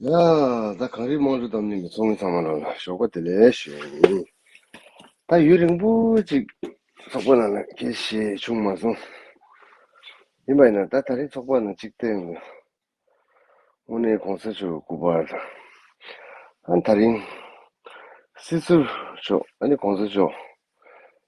ཡང་ད་གངས་རིའི་དམངས་ཁྲོད་དམ་གླིང་གི་མཚོ་སྔོན་ཚང་མ་རང་ལ་ཞོགས་པ་དེ་ལས་བྱུང། ད་ཡུན་རིང་པོ་ཅིག་ཚོགས་པ་ནང་ལ་དགེ་བཤེས་བྱུང་མ་སོང། ཡིན་པ་ཡིན་ན་ད་ད་རིང་ཚོགས་པ་ནང་གཅིག་བསྟེན་དགོས། དངོས་གནས་གོང་ས་མཆོག་གི་སྐུ་པར་དང། ཨ་ན་ད་རིང་སྲིད་ཟུར་མཆོག་ཨ་ནི་གོང་ས་མཆོག་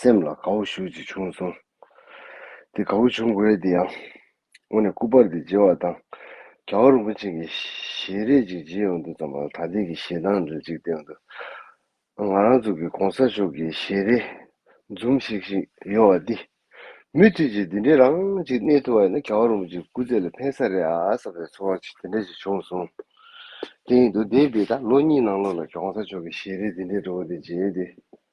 སེམས་ལ་དགའ་བོ་ཞུགས་ཅིག་བྱུང་གསུངས། དེ་དགའ་བོ་བྱུང་དགོས་དེ་ཡང། སྔོན་ནས་སྐུ་པར་དེ་བརྗེ་བ་དང། རྒྱ་བ་རིན་པོ་ཆེ་གི་ཞལ་རས་ཅིག་བརྗེས་ཡོང་འདུག་ཙམ་ལ་ད་ལྟའི་གི་ཞལ་ཐང་འདྲ་ཅིག་བསྟན་འདུག་ང་རང་ཚོ་གི་གོང་ས་མཆོག་གི་ཞལ་རས་འཛུམ་ཤིག་ཤིག་ཡོད་བ་འདི། མུ་མཐུད་ཅིག་འདི་འདྲའི་རང་ཅིག་གནས་ཐུབ་པ་ཡིན་ན་རྒྱ་བ་རིན་པོ་ཆེ་སྐུ་རྩེད་ལ་ཕན་ས་རེད་ཨ་བསམ་པའི་ཚོར་བ་ཅིག་དེ་འདྲ་ཞིག་བྱུང་གསུངས། དེ་ཡིན་དུ་དེ་བས་ད་ལོ་གཉིས་ནང་ལོགས་ལ་གོང་ས་མཆོག་གི་ཞལ་རས་འདི་འདྲའི་འགྲོ་བ་འདི་མཇལ་ཏེ།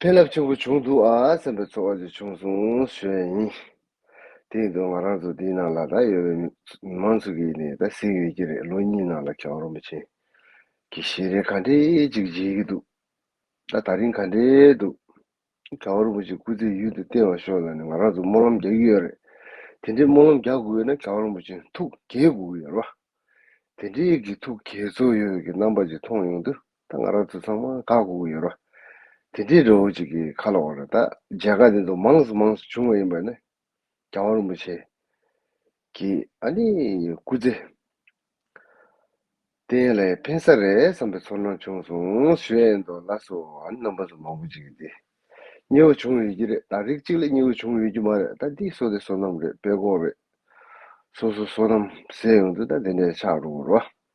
ཕན་རླབས་ཆེན་པོ་བྱུང་འདུག་ཨ་སེམས་པའི་ཚོར་བ་ཅིག་བྱུང་སོང་ཞེས་བཤད་ཡིན། དེ་ཡིན་དུས་ང་རང་ཚོ་འདིའི་ནང་ལ་ད་ཡོད་པའི་མི་མང་ཚོ་གིས་ནི་ད་གཟིགས་ཡོད་ཀྱི་རེད་ལོ་གཉིས་ནང་ལ་ཁྱེད་རང་རོ་མི་ཆེན་གྱི་གཞི་རེ་ག་འདྲའི་ཅིག་བརྗེས་ཀྱི་འདུག་ད་ད་རིང་ག་འདྲའི་འདུག་ག་བ་རུ་མོ་ཅིག་སྐུ་ཚེ་ཡུན་དུ་བརྟན་བ་ཤོག་ལ་ནི་ང་རང་ཚོ་སྨོན་ལམ་རྒྱག་གི་ཡོད་རེད་དེ་འདྲའི་སྨོན་ལམ་རྒྱག་དགོས་ཡོད་ན་ག་བ་རུ་མོ་ཆེན་ཐུགས་དགྱེས་དགོས་ཀྱི་ཡོད་རེད་བ། དེ་འདྲའི་གི་ཐུགས་དགྱེས་ཚོར་ཡོད་ཀྱི་རྣམ་པ་ཅིག་མཐོང་ཡོང་དུས། ད་ང་རང་ཚོ་ཚང་མ་དགའ་གོ་གི་ཡོད་རོ། དེ་འདྲའི་རི་བོ་གཅིག་གི་ཁ་ལོ་བ་ར་ད་མཇལ་ཁ་འདི་ཚོ་མང་སུ་མང་སུ་བྱུང་བ་ཡིན་པ་ནི། རྒྱལ་བ་རིན་པོ་ཆེ། གི་ཨ་ནི་སྐུ་ཚེ། བརྟན་ལ་ཕན་ས་རེད་བསམ་པའི་ཚོར་སྣང་བྱུང་སོང་ཞུ་ཨེ་འདུག་ལ་སུ་ཨ་ནི་རྣམ་པ་ཚོ་མང་པོ་གཅིག་གི་སྙི་བ་བྱུང་ཡོད་ཀྱི་རེད་ད་རིགས་གཅིག་ལ་སྙི་བ་བྱུང་ཡོད་ཀྱི་མ་རེད་ད་འདི་སོ་དེ་སོ་ནམ་རེད་དཔེ་ཀོག་རེད། སོ་སོ་སོ་ནམ་ཟེར་ཡོང་དུས་ད་དེ་འདྲས་ཆགས་འགྲོ་གི་རོ།